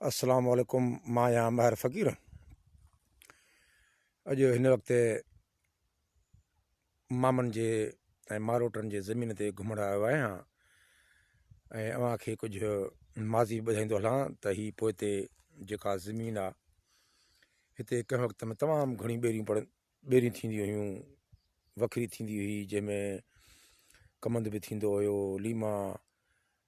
السلام عليڪم مان آهيان ماهر فقير اڄ هن وقت مامن جي ۽ ماروٽن جي زمين تي گهمڻ آيو آهيان ۽ اوهان کي ڪجهه ماضي ٻڌائيندو هلان ته هي پوئتي جيڪا زمين آ هتي ڪنهن وقت ۾ تمام گهڻي ٻيريون پڙ ٻيريون ٿينديون هيون وکري ٿيندي هئي جنهن ۾ ڪمند به ٿيندو هيو ليما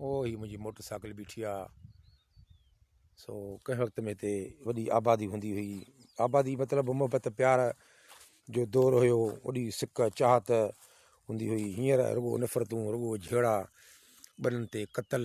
او هي منهنجي موٽر سائيڪل بيٺي آ سو ڪنهن وقت ۾ هتي وڏي آبادي هوندي هئي آبادي مطلب محبت پيار جو دور هيو وڏي سڪ چاهت هوندي هئي هينئر رڳو نفرتون رڳو جهيڙا ٻنهن تي قتل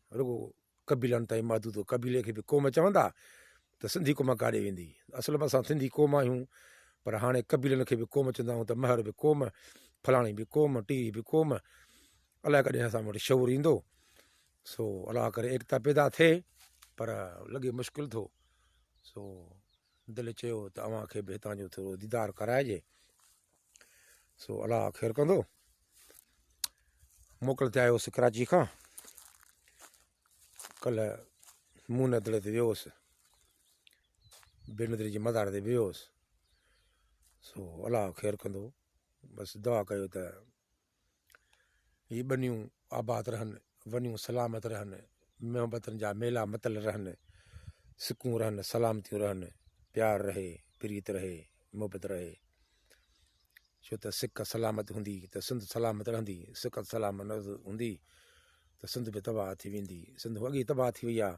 رڳو قبيلن تائين محدود هو. قبيلي کي به قوم چوندا ته سنڌي قوم ڪاڏي ويندي. اصل ۾ اسان سنڌي قوم آهيون پر هاڻي قبيلن کي به قوم چوندا آهيون ته مهر به قوم، فلاڻي به قوم، ٽيهي به قوم. الاء ڪڏهن اسان وٽ شعور ايندو. سو الله ڪري ايڪتا پيدا ٿئي پر لڳي مشڪل ٿو. سو دل چيو ته اوهان کي به هتان جو ٿورو ديدار ڪرائجي سو الله خير ڪندو موڪل تي آيو هوس ڪراچي کان ڪلهه مون ندر تي ويو هوس بي ندر جي مزار تي ويو هوس سو الله خير ڪندو بس دعا ڪيو ته هي ٻنيون آباد رهن، ونيون سلامت رهن، محبتن جا ميلا متل رهن، سڪون رهن، سلامتيون رهن، پيار رهي، پريت رهي، محبت رهي. ڇو ته سڪ سلامت هوندي ته سنڌ سلامت رهندي، سڪ سلامت نه هوندي ته سنڌ به تباهه ٿي ويندي. سنڌ اڳي تباهه ٿي وئي آهي،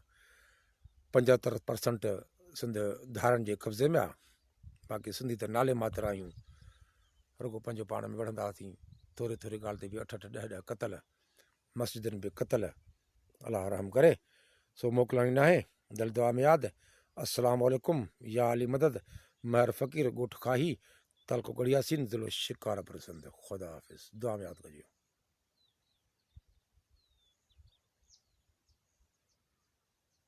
پنجهتر پرسنٽ سنڌ ڌارن جي قبضي ۾ آهي. باقي سنڌي ته نالي ماتر آهيون رڳو پنهنجو پاڻ ۾ وڙهندا هئاسين ٿوري ٿوري ڳالهه تي به اٺ اٺ ڏهه ڏهه قتل مسجدن به قتل الله رحم ڪري سو موڪلائڻي ناهي دل دعا ۾ ياد السلام عليڪم يا علي مدد مهر فقير ڳوٺ کاهي تعلقو ڳڙياسين ضلعو شڪارپور سنڌ خدا حافظ دعا ۾ ياد ڪجو